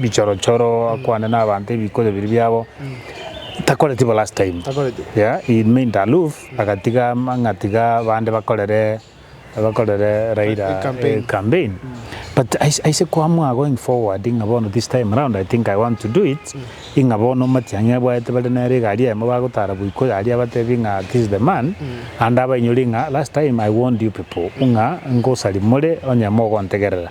bichorochoro akwane nabanto ebikoyo biria biabo takoreti bo last time yeah he remained aloof agatiga amang'a tiga bande bakorere bakorere Raila campaign but aise koamua going forward ng'a bono this time round I think I want to do it ng'a bono Matiang'i abwate bare nere egari eyemo bagotara boikoyo aria abatebie ng'a this is the man ande abainyore ng'a last time I warned you people ng'a ngosaria more onye mogontegerera.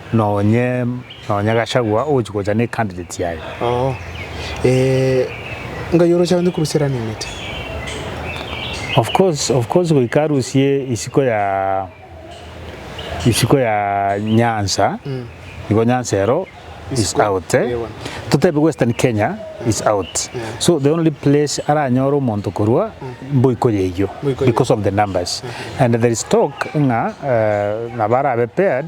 Nonye nonye Gachagua ogochia gocha ne candidate yaye. Oo. Eeh ngai ore ochagete korusia run mate. Of course of course goika arusie isiko ya isiko ya Nyanza igo Nyanza ero is out totebe western Kenya is out so the only place aranyore omonto korwa Mboiko yeyio because of the numbers and there is talk ng'a nabo arabe paired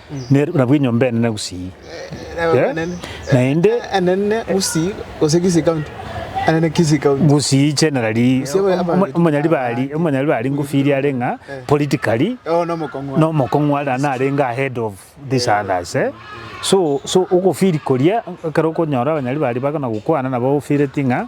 ne nabwo enyomba enene gusii. Naende. Enene gusii gose Kisii county. Enene Kisii county. Gusii generally omonyaribari omonyaribari ngofiria are ng'a politically nomokong'u are narenge ahead of these others eh so so ogofiri koria ekero okonyora abanyaribari bagana gokwana nabo ofireti ng'a.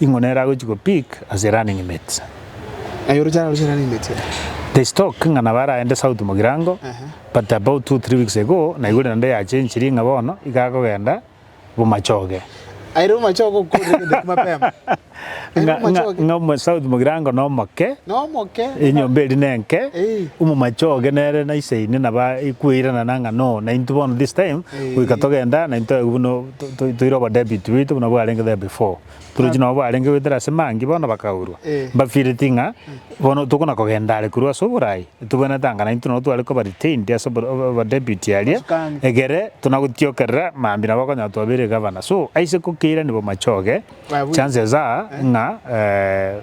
Ing'o nere agochia go peak as a running mate? Aye oroche araroche running mate ere. There is talk ng'a nabo aragende south mogirango but about two three weeks ago naigure naende ya chenchirie ng'a bono iga akogenda bomachoge. Aye rero bomachoge okorire gento ekio mapema. Aye Ng'a ng'a bomachoge. ng'a omo south mogirango nomoke, Nomoke. enyomba eri nenke, Eih. omomachoge nere naisaini naba ikueirana nang'a no naintwe bono this time goika togenda naintwe buna Toire obo David wetu buna bwarenge there before. Toire chi nabo bwarenge goetera ase mangi bono bakaurwa. Mbafeelet ng'a bono tokona kogenda are korwa ase oboraai. Tobwenerete anga naintwe nabo tware koba retained ase obo deputy aria. Egere tuna gotiokerera mambi nabo bakonyara twabeire governor. So aise ko keirani bo machoge chances are ng'a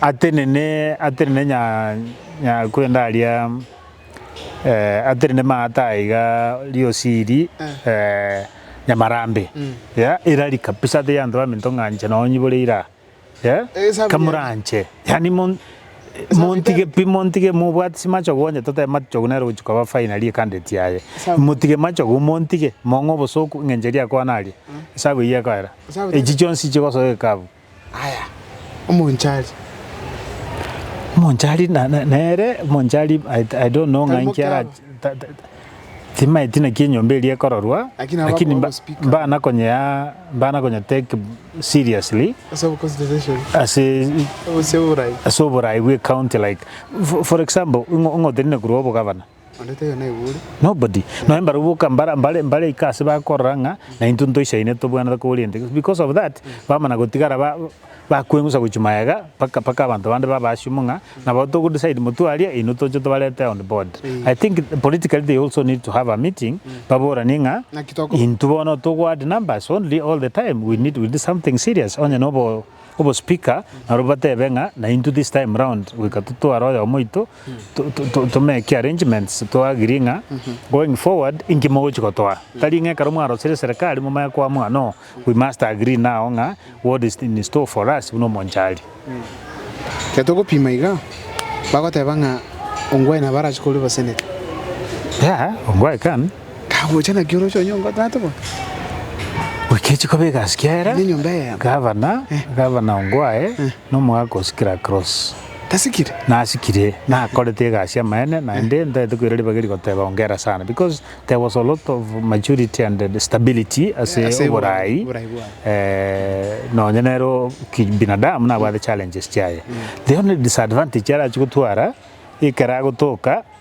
atenene atenene nya nyakwenda aria atenene maate aya iga riosi eri nyamarambe ya erari kabisa tiga abanto baminto ng'a inche nonye nyibore ira aa kamoranche yaani mon montige pi montige mobwate chimachogo onye totebe machogo nere ogochia koba finally ekandeti yaye motige machogo montige mong'e obosoku ng'a inche riakoa naria esabu eyio ekoera echi chionsi chigosoa ekabu. Aya, omonchari. Omonchari na- na- nere omonchari I- I don't know ng'a Tari inki ara- mokiaro. ta- ta- ta- timaeti naki enyomba eria ekororwa, Lakini abakwa lakini mba- ogospika. mbana konyea mbana konya take seriously Ase oboconsideration. ase Ase oborai. ase oborai bw'ecounty like for- for example ng'o- ng'otenene korwa obogavana. Nonya mbarabwo mbarika ase bakorora ng'a naintwe ntoisaine tobwanete koba oriente gete because of that bamana gotigara bakweng'usa gochia magega mpaka mpaka abanto bande babe assume ng'a nabo togo decide motwe aria inwe toche tobarete on board. I think politically they also need to have a meeting baboranie ng'a intwe bono togo add numbers only all the time we need something serious onye nobo. obospeaker nabo batebe ng'a naintwe this time round goika totware oyomo oito to to to tomeke arrangements to agree ng'a going forward inki mogochi gotoa. Tari ng'a ekero mwarosire eserekari momanye koamua no we must agree now ng'a what is in store for us buna omonchari. Ekero togopima iga, bagoteba ng'a Ongwae nabo arache korwa obosenete. Yeah, Ongwae can. Kagocha naki oroche onyongo tata bo. Bwekechi kobe egasikia era. Nenyomba eyemo. Gavana, Gavana Ongwae, nomogaka o Sikira Cross. Tasikire? Nasikire, nakorete egasi amaene naende ntaete koira ribaga rigoteba ongera sana because there was a lot of maturity and stability ase oborai nonya nere kibinadamu nabwate challenges chiaye. The only disadvantage arachie gotwara ekero agotoka.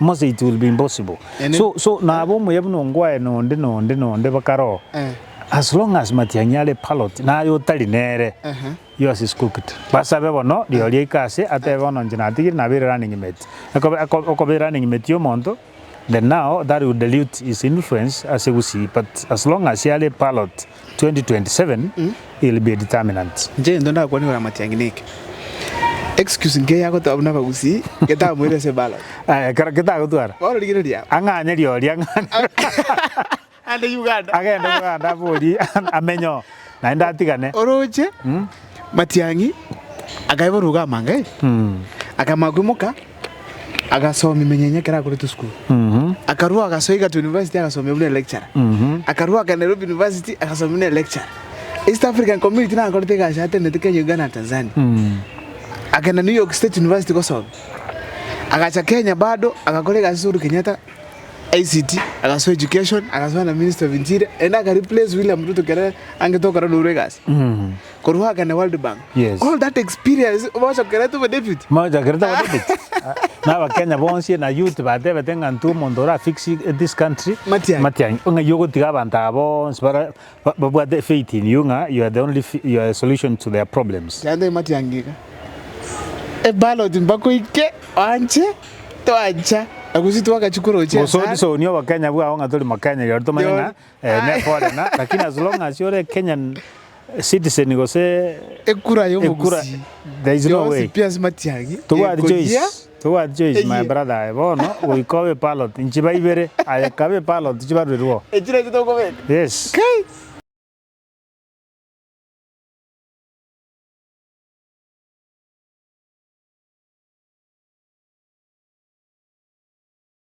Mose it will be impossible Ene- so so nabo omuya buna ongwae nonde nonde nonde bakaroo Eh. as long as matiang'i are parrot naye otari nere Ehe. yours is cooked basabe bono riori aike ase atebe bono inche natigire nabere running mate ekobe eko- okobe running mate y'omonto then now that will dilute his influence ase gusii but as long as are parrot 2027 ill be determinant. Inche gento ndakwane igoro amatiangi neke, excuse nkiya yagotoa buna abagusii getamoire ase ballot. Aye ekero ketagotwara. Bono rigereria. Ang'anyerie oria ang'ane. Ande Uganda. Agende Uganda aborie amenye oo naende atigane. Oroche, Matiangi, akaeborwa iga amangaini, akama koimoka. agasomia emenyenyo ekero akorete esukuru akarua agasoa Egerton University agasomia buna electurer akarua agakenda Nairobi University agasomia buna electurer East African Community naye akorete egasi atenenete Kenya Uganda na Tanzania akagenda New York State University gosomia agacha Kenya bado agakora egasi ase Uhuru Kenyatta ICT agasoa Education agasoa na Ministry of Interior naende aka replace William Ruto kere angete okorana orwe egasi Korwa oagane na World Bank. Yes. All that experience bochokerete bo David. Mochakerete bo David. Na abakenya bonsi na youth batebete ng'a intwe omonto ora fix this country. Matiang'i. Matiang'i. Ng'a iye ogotiga abanto aba bonsi bara babwate faith in you ng'a you are the only you are the solution to their problems. Chande Matiang'i iga. E ballot mbakoike oanche toancha na gose twagachia korochia. Gose odisonie obokenya bwao ng'a tori mokenya rirorio tomanye ng'a. Eeh nekore na lakini as long as ore Kenyan citizen gose Ekura ya ekura omogusii there is no yonsi way. pi ase matiang'i Tobwati choice, ekoyia tobwati choice my eyie. brother aye bono goika obe ballot nchiba ibere aye kabe ballot chibaruerwo. Echire echi tokobeka. Yes. Kai.